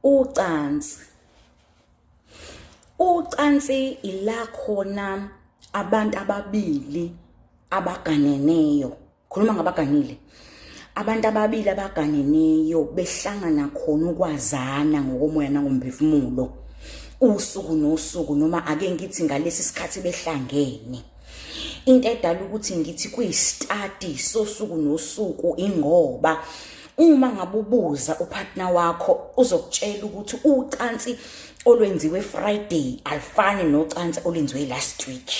ucansi ucansi ila khona abantu ababili abaganeneyo khuluma ngabaganile abantu ababili abaganeneyo behlangana khona ukwazana ngokomoya nangomphefumulo usuku nosuku noma ake ngithi ngalesi sikhathi behlangene into edala ukuthi ngithi kuyistadi sosuku nosuku ingoba Uma ngabe ubuza upartner wakho uzokutshela ukuthi ucansi olwenziwe Friday alifani nocansi olwenziwe last week.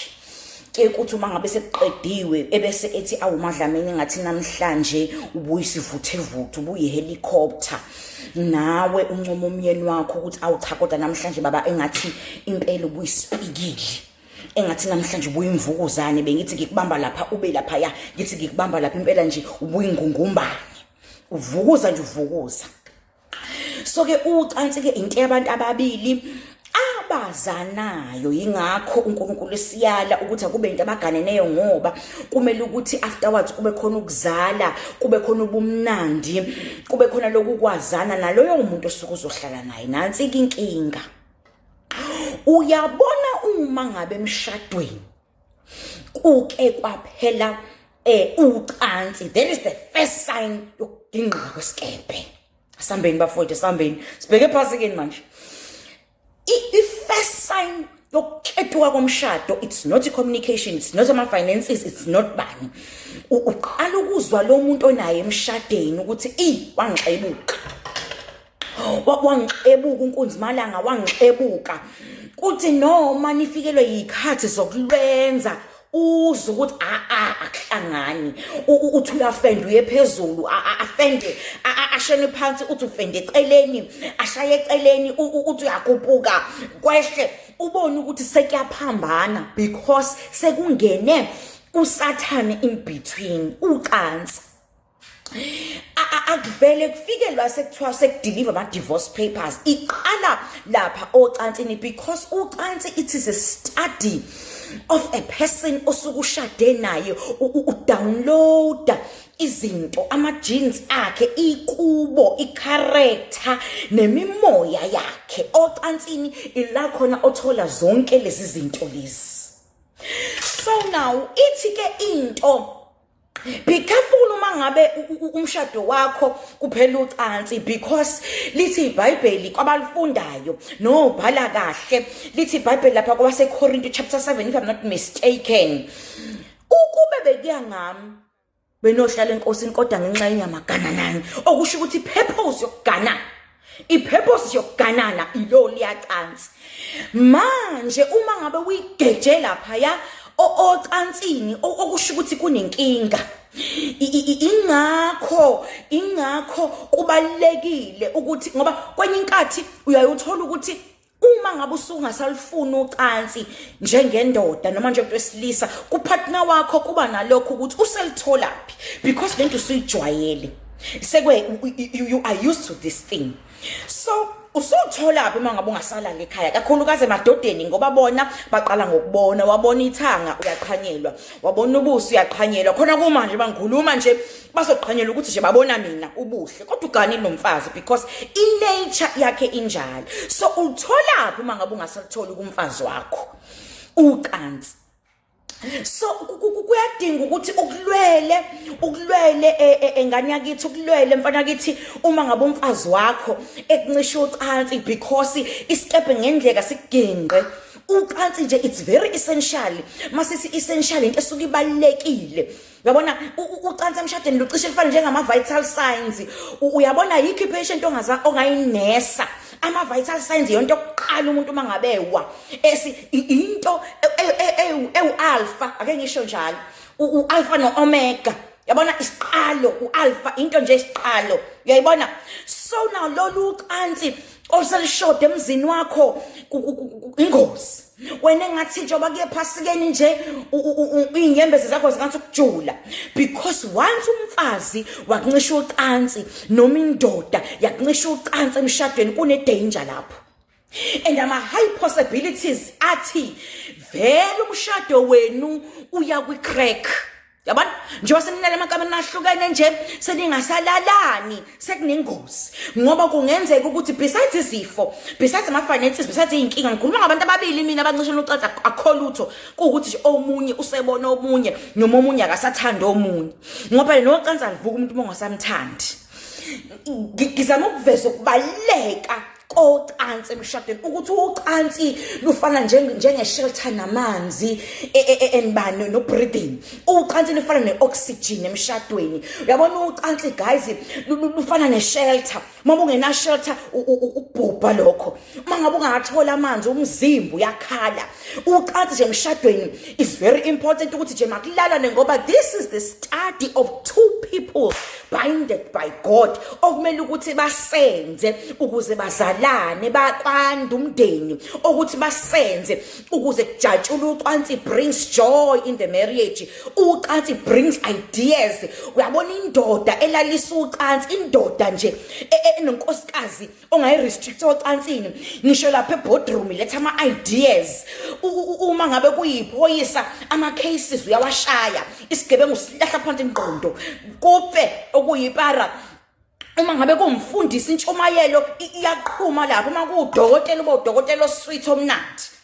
ke ukuthi uma ngabe sekuqediwe ebese ethi awumadlameni ngathi namhlanje ubuyisivuthe vuthu ubuyi helicopter nawe uncoma umyeni wakho ukuthi awucha kodwa namhlanje baba engathi impela ubuyisipikile engathi namhlanje ubuye imvukuzane bengithi ngikubamba lapha ube lapha ya ngithi ngikubamba lapha impela nje ubuye ingungumbane uvukuza nje uvukuza so ke ucansi ke into yabantu ababili abazanayo yingakho uNkulunkulu esiyala ukuthi akube into abaganeneyo ngoba kumele ukuthi afterwards kube khona ukuzala kube khona ubumnandi kube khona lokukwazana naloyo umuntu osuke uzohlala naye nansi inkinga uyabona uma ngabe emshadweni kuke kwaphela eh ucansi that is the first sign yokudingqa kwesikebhe asambeni bafowethu asambeni sibheke phansi kini manje i first sign yokuketuka komshado it's not i communication it's not ama finances it's not bani uqala ukuzwa lo muntu onaye emshadeni ukuthi i wangixebuka wangixebuka unkunzimalanga wangixebuka kuthi noma nifikelwe yikhathi zokulwenza uzwe ukuthi aa akuhlangani uthi uyafenda uye phezulu afende ashene phansi uthi ufende eceleni ashaye eceleni uthi uyakupuka kwehle ubone ukuthi sekuyaphambana because sekungene usathane in between ucansi akuvele kufike la sekuthiwa sekudeliver ama divorce papers iqala lapha ocansini because ucansi it is a study of a person osukushade naye udownloada izinto ama genes akhe ikubo icharacter nemimoya yakhe ocansini ila khona othola zonke lezi zinto lezi so now ithi ke into be careful uma ngabe umshado wakho kuphela ucansi because lithi ibhayibheli kwabalifundayo nobhala kahle lithi ibhayibheli lapha kwabasekorinto chapter 7 if i'm not mistaken ukube bekuya ngami benohlala enkosini kodwa ngenxa yenyama gananani okusho ukuthi purpose yokuganana ipurpose yokuganana ilo liyacansi manje uma ngabe uyigeje lapha ya ocansini okusho ukuthi kunenkinga ingakho ingakho kubalekile ukuthi ngoba kwenye inkathi uyayuthola ukuthi uma ngabe usungasalufuni ucansi njengendoda noma njengomuntu wesilisa kupartner wakho kuba nalokho ukuthi uselitholaphi because lento usuyijwayele sekwe you are used to this thing so usutholaphi uma ngabe ungasalali ekhaya kakhulukazi emadodeni ngoba bona baqala ngokubona wabona ithanga uyaqhanyelwa wabona ubuso uyaqhanyelwa khona kumanje bangikhuluma nje bazoqhanyela ukuthi nje babona mina ubuhle kodwa ugani nomfazi because inature yakhe injalo so utholaphi uma ngabe ungasalutholi kumfazi wakho ucansi so kuyadinga ukuthi ukulwele ukulwele e, e, engane yakithi ukulwele mfana kithi uma ngabe umfazi wakho ekuncisha ucansi because isikepe ngendleka siginqe ucansi nje it's very essential masisi essential into esuke ibalekile Yabona ucansi emshadweni lucishe lifane njengama vital signs. Uyabona yikho ipatient ongaza ongayinesa. Ama vital signs yonto yokuqala umuntu mangabe wa. Esi into ewu e, e, e, alpha ake ngisho njalo. U alpha no omega. Yabona isiqalo u alpha into nje isiqalo. Uyayibona? So now lolu cansi oselishode emzini wakho ingozi. wena engathi njengoba kuye phasikeni nje iy'nyembezi zakho zingathi ukujula because once umfazi wakuncisha ucansi noma indoda yakuncisha ucansi emshadweni kunedanger lapho and ama-high possibilities athi vele umshado wenu uya kwi-crack yabona njengoba senilala emakamereni ahlukene nje seningasalalani sekunengozi ngoba kungenzeka ukuthi besides izifo besides ama-finances besides iy'nkinga ngikhuluma ngabantu ababili mina abancishela ucaca akho lutho kuwukuthi nje omunye usebona omunye noma omunye akasathandi omunye ngoba phela nocansi alivuka umuntu uma ungasamthandi ngizama ukuveza ukubaluleka kocansi emshadweni ukuthi ucansi lufana njenge-shelter namanzi e, e, e, enibani no-breathing ucansi lufana ne-oxygen emshadweni uyabona ucansi guys lufana ne-shelter uma bungena-shelter ukubhubha lokho uma ngabe ungawatholi amanzi umzimba uyakhala ucansi nje emshadweni is very important ukuthi nje makulalane ngoba this is the study of two people binded by god okumele ukuthi basenze ukuze bazalane bakwanda umndeni okuthi basenze ukuze kujatshule ucansi brings joy in the marriage ucansi brings ideas uyabona indoda elalisa ucansi indoda nje e-, e-, enonkosikazi ongayi-restricta ocansini ngisho lapha ebodroom letha ama-ideas uma ngabe kuyiphoyisa ama-cases uyawashaya isigebengu silahla phansi ingqondo kufe okuyipara uma ngabe kumfundisa intshumayelo iyaqhuma lapho uma kuwudokotela uba udokotela oswitha omnandi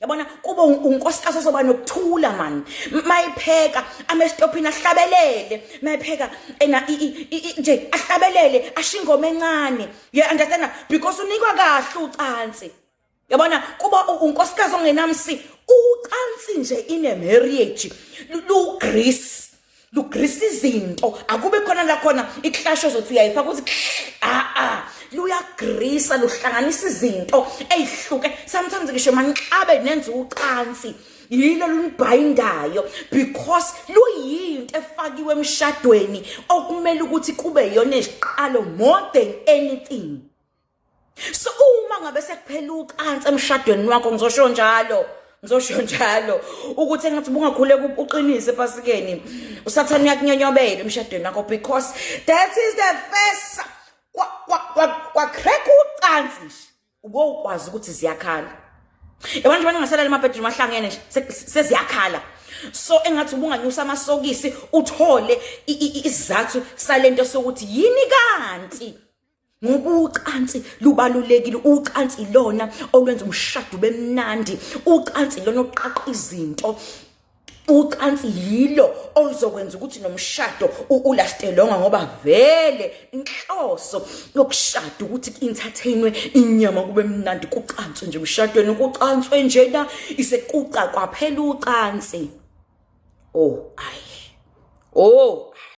yabona kube unkosikazi ozoba nokuthula mani mayipheka amesitophini ahlabelele mayipheka ena nje ahlabelele asho ingoma encane you understand because unikwa kahle ucansi yabona kuba unkosikazi ongenamsi ucansi nje in a marriage lu grease lugrisa izinto akube khona la khona ikhlasho zothi uyayifaka ukuthi a ah, a ah, luyagrisa luhlanganisa izinto eyihluke sometimes ngisho manixabe nenza ucansi yilo lunibhayindayo because luyinto efakiwe emshadweni okumele ukuthi kube yona iziqalo more than anything so uma ngabe sekuphela ucansi emshadweni wakho ngizosho njalo ngizosho njalo ukuthi engathi bungakhule uqinise epasikeni usathane uyakunyonyobela emshadweni wakho because that is the first kwacrack ucansi nje ubowukwazi ukuthi ziyakhala yabona nje bangasalala emabhedroom ahlangene nje seziyakhala so engathi ubunganyusa amasokisi uthole isizathu salento sokuthi yini kanti ngoba ucansi lubalulekile ucansi ilona olwenza umshado ube mnandi ucansi ilona oqaqa izinto ucansi yilo oluzokwenza ukuthi nomshado ulastelonga ngoba vele inhloso yokushada ukuthi entertainwe inyama kube mnandi kucanswe nje umshadweni kucanswe njena isekuqa kwaphela ucansi oh ayi oh